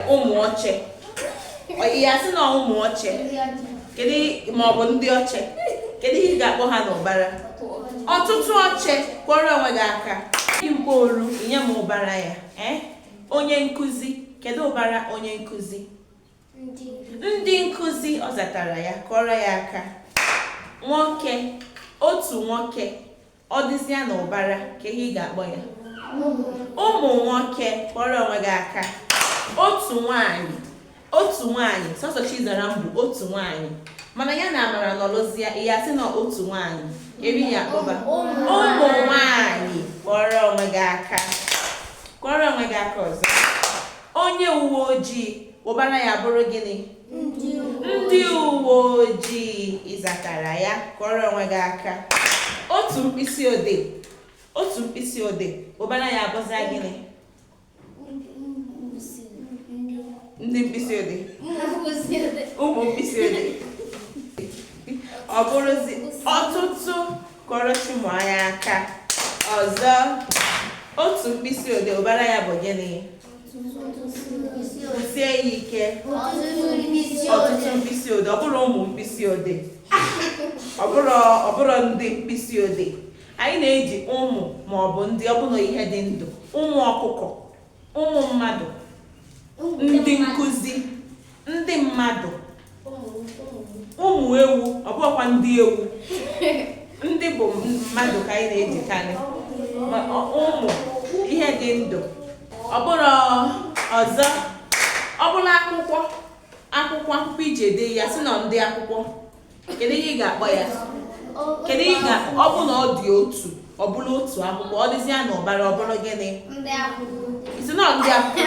ụmụ oche ị ya sị na ụmụ oche kedu ma ọ bụ ndị oche kedu ihe ị ga-akpọ ha n'ụbara ọtụtụ oche kụọrọ onwe gị aka igbo oru nye m ụbara ya eh? onye nkụzi kedu ụbara onye nkụzi ndị nkụzi ọ zatara ya kụọrọ ya aka nwoke otu nwoke Ọ dịzịa n'ụbara, kee ihe ị ga-akpọ ya? Ụmụ nwoke, kụọrọ onwe gị aka. Otu nwaanyị, otu nwaanyị, sọsọ Chizaram bụ otu nwaanyị. Mana ya na Amara nọrọzịa, ị ya sị na otu nwaanyị. Kee ihe ị ya-akpọ ha? Ụmụ nwaanyị, kụọrọ onwe gị aka. Kụọrọ onwe gị aka ọzọ. Onye uwe ojii, ụbara ya bụrụ gịnị? ndị uwe ojii ị zatara ya kụọrọ onwe gị aka otu mkpịsị odee otu mkpịsị odee ụbara ya abụzịa gịnị ndị mkpịsị odee ụmụ mkpịsị odee ọ bụrụzi ọtụtụ kụọrọ chimụanya aka ọzọ otu mkpịsị odee ụbara ya bụ gịnị sie ya ike ọtụtụ mkpịsị odee ọ bụrọ ụmụ mkpịsị odee ọ bụrọ ndị mkpịsị odee anyị na-eji ụmụ ma ọ bụ ndị ọ bụrụ ihe dị ndụ ụmụ ọkụkọ ụmụ mmadụ ndị nkụzi Ndị mmadụ. Ụmụ ewu, ọ bụghịkwa ndị ewu. Ndị bụ mmadụ ka anyị na-ejikarị. Ma ọ- Ụmụ, ihe dị ndụ. Ọ bụrụ ọzọ, ọ bụrụ akwụkwọ, akwụkwọ akwụkwọ e ji ede, ị ya sị na ndị akwụkwọ. Kedu ihe ị ga-akpọ ya? Kedu ihe ị ga ọ bụ na ọ dị otu, ọ bụrụ otu akwụkwọ, ọ dịzịa n'ụbara, ọ bụrụ gịnị? Ndị akwụkwọ. Ị sị na ọ ndị akwụkwọ.